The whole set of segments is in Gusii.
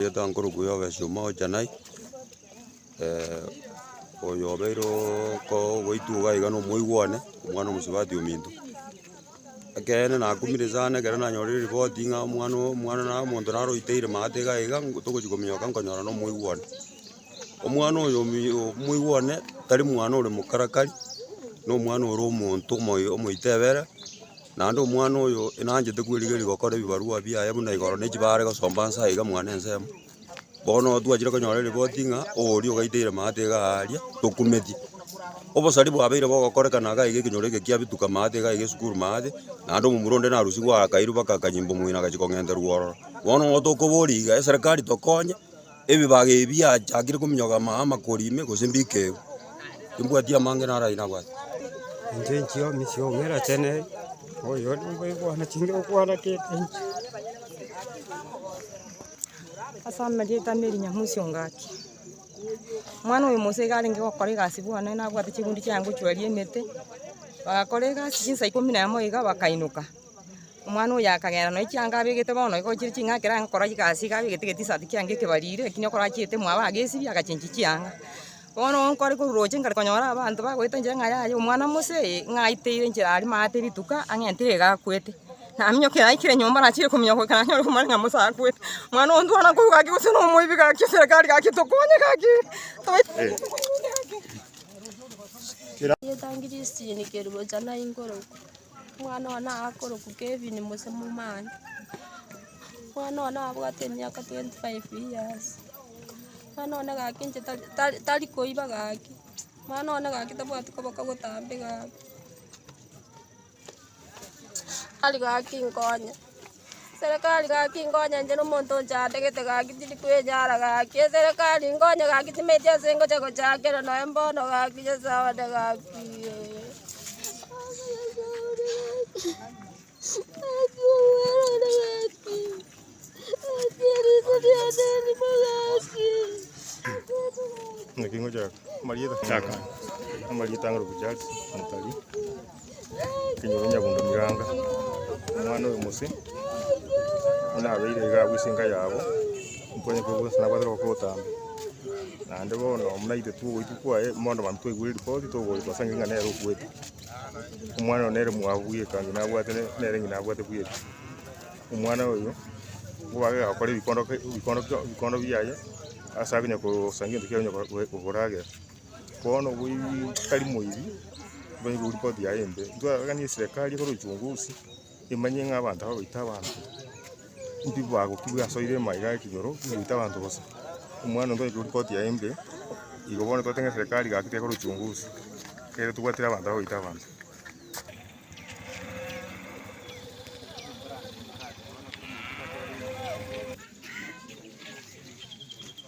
Gete nkorokwo ya obesima ocha naye, oyo obeire okooo goitwa iga iga na omoigwa one, omwana omosubati ominto. Ekeene nakumire sana ekero nanyorire ripoti ng'a omwana oo omwana na omonto naroiteire maate iga iga togochi kominyoka nkonyora na omoigwa one. Omwana oyo omoigwa one tari mwana ore mokarakari, nomwana ore omonto omoyo omoito ebere, naende omwana oyo nanchete kwerigeria gokora ebibarua biaye buna igoro na echibaare are gosomba nse aye iga mwane ensemo. Bono twachire konyora eripoti ng'a oria ogaiteire maate iga aaria, tokumeti. Obosari bwabeire bogokorekana iga iga ekenyoro eke kiabituka maate iga iga esukuru maate, naende omomura onde narusigwe akairwa baka akanyimba omong'ina agachia kong'enterwa ororo. Bono nigo tokoboria iga eserekari tokonye. Ebibaga ebi biachakire kominyoka amaaye amakori ime, gose mbikegwe? Timbwati amange naro ayio nabwate. Inche inchia omochie oo ng'era chene, oyo nigo egwana ching'e ogwana kende inche. Ase amarieta na erinyamu ase engaki. Omwana oyo Musa iga arenge gokora egasi bwane nabwate chigunda chiaye ngochwaria emete, bagakora egasi chinsa ikomi na emo iga bakainyoka. Omwana oyo akagenda nonya chianga abegete bono igo chire ching'aki range gokora egasi iga abegete egetisati kiange ekebariri ekio nigo korachiete mwabo agesibia agachenchia chianga. Bono nkore kororoche nkare konyora abanto bagoeta nchera ng'a yaya omwana mose eye ng'a aiteire nchera aria maate rituko ang'entire iga akwete. Naminyoke naikire nyomba nachire kominyoka goika nanyore komanya ng'a mose akwete. Mwana oyo ntwana korwa gaki gose nomoibi gaki serekari gaki tokonye gaki tobaisa. Omwana oye nakorokwa Kevin gose momani. Omwana oye nabwate emiaka twenty five years. Omwana oye gaki inche tari- tari koiba gaki. Omwana oye gaki tabwati koboka gotambe gaki. Tari gaki nkonye. Eserekari gaki nkonyenche nomonto ochategete gaki tindi kwenyara gaki eserekari nkonye gaki timaeti ase ngocha gochakera noe mbono gaki nyasae one gaki. Kenyoro Nyabundo Miranga, omwana oyo Mose, buna abeire iga abwo ase enka yabo, nkonyekwe bwensi nabwate rogoko botambe. Naende bono buna intwe togoitwa kwaye, mono mambia twaigure ripoti togoitwa ase ng'ina nere okuete. Omwana oyo nere mwabu bwe eka ng'ina abwate ne- nere ng'ina abwate bwe eka. Omwana oyo, nigo bagakora ebikondo ke- ebikondo bikondo biaye, ase akonya kosaria egento kiaye onya ko- ko- koragera. Bono tari moiri manye koria ripoti yaye embe, ntwaroranie eserekari ekore uchunguzi emanye ng'a abanto aba baita abanto mbi bagokigwa ase oire amaiga aya ekenyoro baita abanto bosa. Omwana onde oyokoigwa ripoti yaye embe, igo bono twateba ng'a eserekari gaki tekore uchunguzi ekere tobwatire abanto aba baita abanto.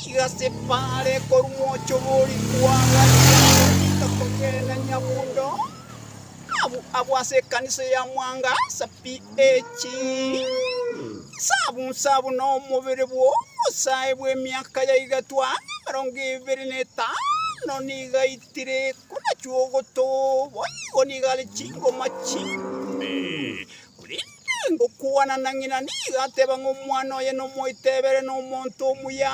Chigasepara are korwa mwocho bw'orikwa agachia gotiga kogenda Nyabundo, abwo abwo ase ekanisa ya Mwanga sa PH. Sabusa buna omobere bw'obosae bw'emiaka ya igatwa emerongo ebere na etano nigo aitire, korachwa ogotoba, boigo nigo are chingoma chimbe. Korende ngokwana na ng'ina nigo ateba ng'a omwana oye nomoitebere nomonto omuya,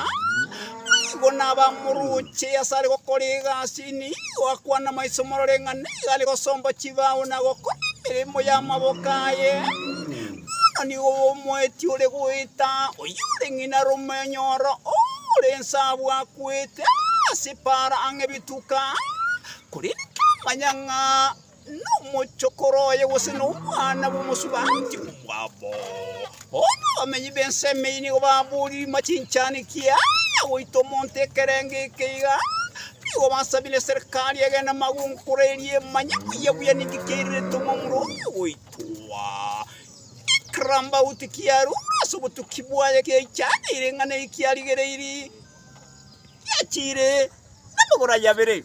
nigo nabamoroche asare gokora egasi. Nigo akwana maiso morore ng'a nigo are gosomba chibao na gokora emeremo y'amaboko aye. Bono nigo omoeti ore goeta, oyore ng'ina romonyoro, ore ense abwo akwete ase epaara ang'e bituko aa, korende tamanya ng'a nomochokoro oye gose nomwana bw'omosubaanti omwabo. Bono abamenyi b'ense emeyie nigo babooriri machinchani ki aya goita omonto ekerengo eke iga, nigo basabire eserekari ege namagonkoro erie emanye buya buya ninki kiairerete omomura oye goitwa. Ekirambauti kiarua ase obotuki bwaye kiaichaneire ing'ana eye kiarigereiri, giachire namagoro aye abere.